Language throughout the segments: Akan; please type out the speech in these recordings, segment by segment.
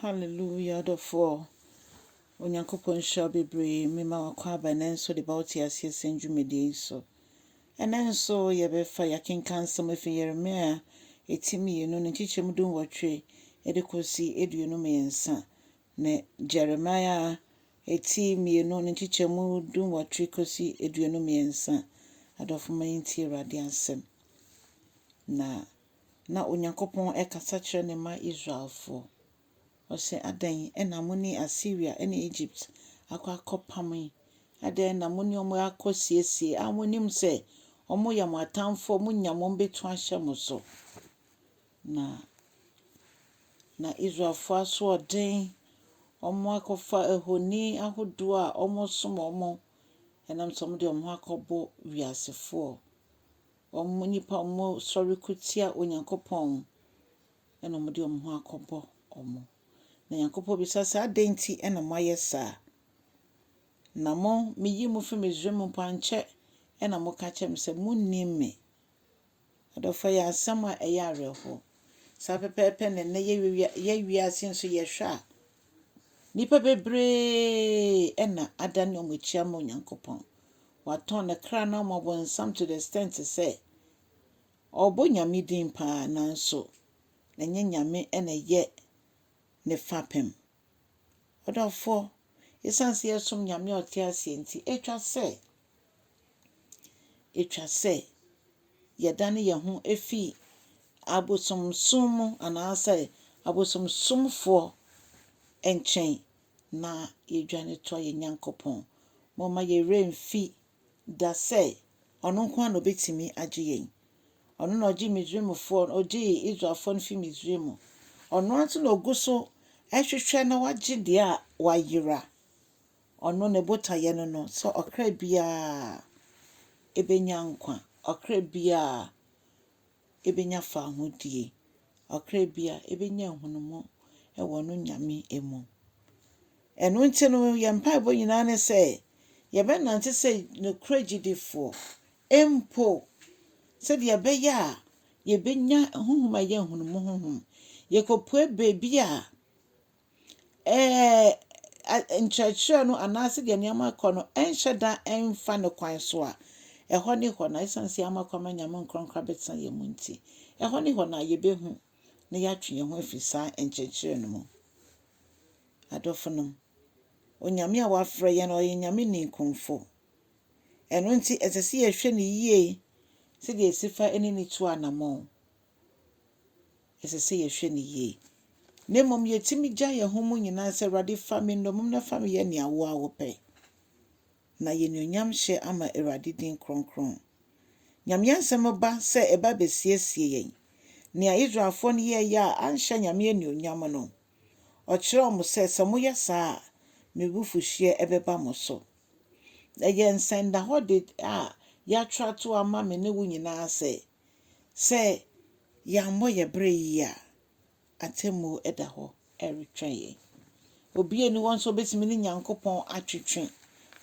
Hallelujah adɔfoɔ Onyankopɔn nhyira wo bebree mema wo akwaaba ɛnɛ nso de ba wo teaseɛ sɛm dwumadie yi so. Ɛnɛ nso yɛbɛfa yɛakenka nsɛm afi Yeremia ɛti mmienu ne nkyekyɛm du nwɔtwe ɛde kɔsi aduonu mmiɛnsa ne Jeremia ɛti mmienu ne nkyekyɛm du nwɔtwe kɔsi aduonu mmiɛnsa. Adɔfo ma yɛntie Awurade asɛm na na Onyankopɔn rekasa kyerɛ ne mma Israelfoɔ. Ɔse, Adɛn na mo ne Asiria ne Egypt akɔ akɔpam yi? Adɛn na mo ne wɔn rekɔsiesie a monnim sɛ wɔyɛ mo atamfoɔ, monya wɔn bɛtu ahyɛ mo so? Na na Israelfoɔ asoɔden, wɔakɔfa ahoni ahodoɔ a wɔsom wɔn, ɛnam sɛ wɔde wɔn ho akɔbɔ wiasefoɔ. wɔn nnipa wɔsɔre ko tia Onyankopɔn na wɔde wɔn ho akɔbɔ wɔn. Na Nyankopɔn bisa sɛ, adɛn nti na moayɛ saa? Na mo, meyii mo firi Misraim mpo ankyɛ na moka kyerɛ me sɛ monnim me. Adɔfo, ɛyɛ asɛm a ɛyɛ awerɛhoɔ. Saa pɛpɛɛpɛ na nnɛ yɛ wiase nso yɛhwɛ a, nnipa bebree na adane wɔn akyi ama Onyankopɔn. Watɔn ne kra no ama bonsam to the extent sɛ ɔbɔ Nyame din paa nanso ɛnyɛ Nyame na ɛyɛ ne fapem. Ɔdɔfoɔ, ɛsiane sɛ yɛsom Nyame a ɔte aseɛ nti, ɛtwa sɛ, ɛtwa sɛ yɛdane yɛn ho fi abosomsom mu anaasɛ abosomsomfoɔ nkyɛn na yɛdwane toa yɛn Nyankopɔn. Momma yɛn werɛ mfi da sɛ ɔno nko ara na ɔbɛtumi agye yɛn. Ɔno na ɔgye Misraimfoɔ, ɔgyee Israelfoɔ no fi Misraim. Ɔno ara nso na ɔgu so hwehwɛ na wagye deɛ a wayera. Ɔno ne botaeɛ no no sɛ ɔkra biara ɛbɛnya nkwa, ɔkra biara ebenya fahodie, ɔkra biara ebenya nhunumu wɔ no Nyame mu. Ɛno nti no yɛn mpaebɔ nyinaa ne sɛ yɛbɛnante sɛ nokorɛ gyidifoɔ mpo sɛdeɛ ɛbɛyɛ a yɛbɛnya honhom a ɛyɛ nhunumu honhom. Yɛkɔpue baabi a. nkyerɛkyerɛ no anaa sɛdeɛ nneɛma rekɔ no nhyɛ da mfa ne kwan so a, ɛhɔ ne hɔ na ɛsiane sɛ yɛama kwan ma Nyame nkorankora bɛtena yɛn mu nti, ɛhɔ ne hɔ na yɛbɛhu na yɛatwe yɛn ho afiri saa nkyerɛkyerɛ no mu. Adɔfo nom, Onyame a wafrɛ yɛn no, ɔyɛ Nyame ninkunfo. Ɛno nti, ɛsɛ sɛ yɛhwɛ no yie sɛdeɛ ɛsi fa ne ne tu anamɔn. ɛsɛ sɛ yɛhwɛ no yie. Na mmom yɛtumi gya yɛn ho mu nyinaa sɛ, Awurade fa me nnommum na fa me yɛ nea wo ara wopɛ. Na yɛnuonyam hyɛ ama Awurade din kronkron. Nyame asɛm ba sɛ ɛba bɛsiesie yɛn. Nea Israelfoɔ no yɛeɛ a anhyɛ Nyame anuonyam no, ɔkyerɛɛ wɔn sɛ, sɛ moyɛ saa a, me bufuhyeɛ bɛba mo so. Ɛyɛ nsɛndahɔde a yɛatwerɛ ato ama me ne wo nyinaa sɛ, Sɛ yɛammɔ yɛn bra yiye a, atemmuo da hɔ retwɛn yɛn. Obi nni hɔ nso a ɔbɛtumi ne Nyankopɔn atwetwe.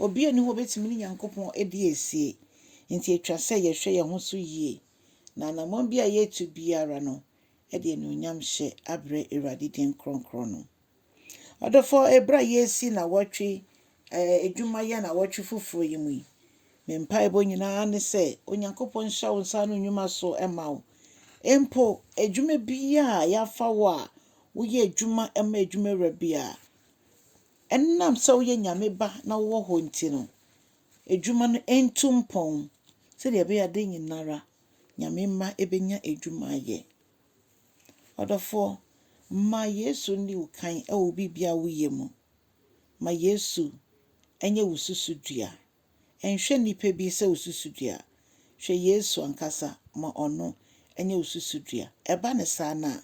Obi nni hɔ a ɔbɛtumi ne Nyankopɔn adi asie. Enti ɛtwa sɛ yɛhwɛ yɛn ho so yie, na anammɔn bi a yɛretu biara no, yɛde anuonyamhyɛ abrɛ Awurade din kronkron no. Ɔdɔfoɔ ɛberɛ a yɛresi nawɔtwe ɛɛ adwuma yi anawɔtwe foforɔ yi mu yi, me mpaebɔ nyinaa ne sɛ Onyankopɔn nhyɛ wo nsa ano nnwuma so ma wo. Mpo adwuma biara a yɛafa wo a woyɛ adwuma ma adwuma wura biara, ɛnam sɛ woyɛ Nyame ba na wowɔ hɔ nti no, adwuma no ɛntu mpɔn sɛdeɛ ɛbɛyɛ adeɛ nyinara Nyame mma ɛbɛnya adwuma ayɛ. Ɔdɔfoɔ, ma Yesu nni wo kan wɔ biribiara a woyɛ mu. Ma Yesu nyɛ wo susudua. Nhwɛ nnipa bi sɛ wo susudua. Hwɛ Yesu ankasa ma ɔno nyɛ wo susudua. Ɛba no saa no a,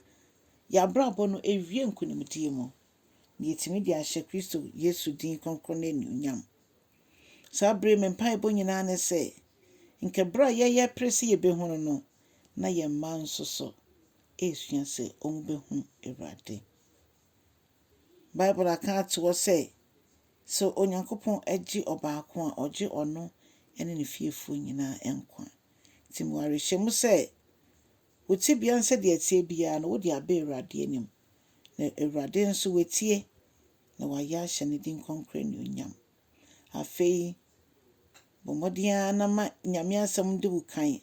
yɛn abrabɔ no ɛwie nkonimdie mu, na yɛtumi de ahyɛ Kristo Yesu din kronkron no anuonyam. Saa bere yi me mpaebɔ nyinaa ne sɛ nka bere a yɛyɛ pere sɛ yebehu no no, na yɛn mma nso so resua sɛ wɔbehu Awurade. Bible aka ato hɔ sɛ, sɛ Onyankopɔn gye ɔbaako a, ɔgye ɔno ne ne fiefoɔ nyinaa nkwa. Nti mewɔ awerɛhyɛmu sɛ, wo tebea nsɛdeɛ ɛteɛ biara no, wode aba Awurade anim, na Awurade nso watie na wɔayɛ ahyɛ ne din kronkron anuonyam. Afei, bɔ mmɔden ara na ma Nyame Asɛm de wo kan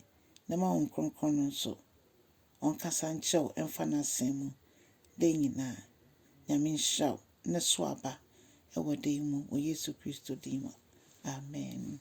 na ma Honhom Kronkron no nso ɔnkasa nkyerɛ wo mfa n'Asɛm mu da nyinaa. Nyame nhyira wo na so aba wɔ da yi mu wɔ Yesu Kristo din mu, amen.